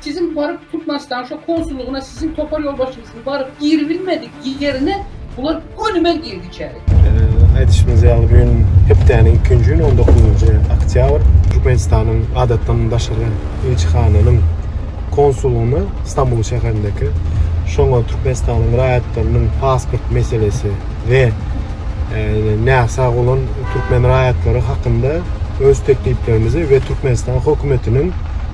Siziň baryp Türkmenistanyň şo konsullygyna siziň topar ýolbaşçyňyzyň baryp giribilmedik ýerine bular gönümel girdi içeri. Aýdyşymyz ýaly bu gün hepdäniň ikinji güni on dokuzynjy oktýabr Türkmenistanyň adatdan daşary ilçihanasynyň konsullygyna Stambul şäherindeki şoňa Türkmenistanyň raýatlarynyň pasport meselesi we näsag bolan türkmen raýatlary hakynda öz tekliplerimizi we Türkmenistan hökümetiniň